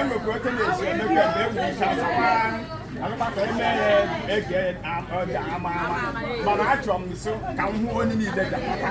Emekwa oke na-esi emekwa ebe egwu isi asakwa alụkpata eme ya ege ọja ama ama mana achọrọ m nso ka m hụ onye niile ga-akpata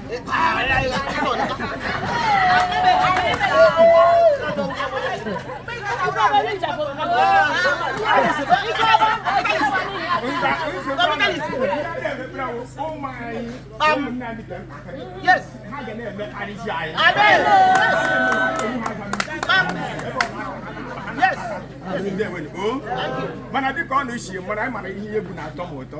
Yes. Yes. mana dịka ọ na-esi mara anyị mara ihe egwu na-atọ m ụtọ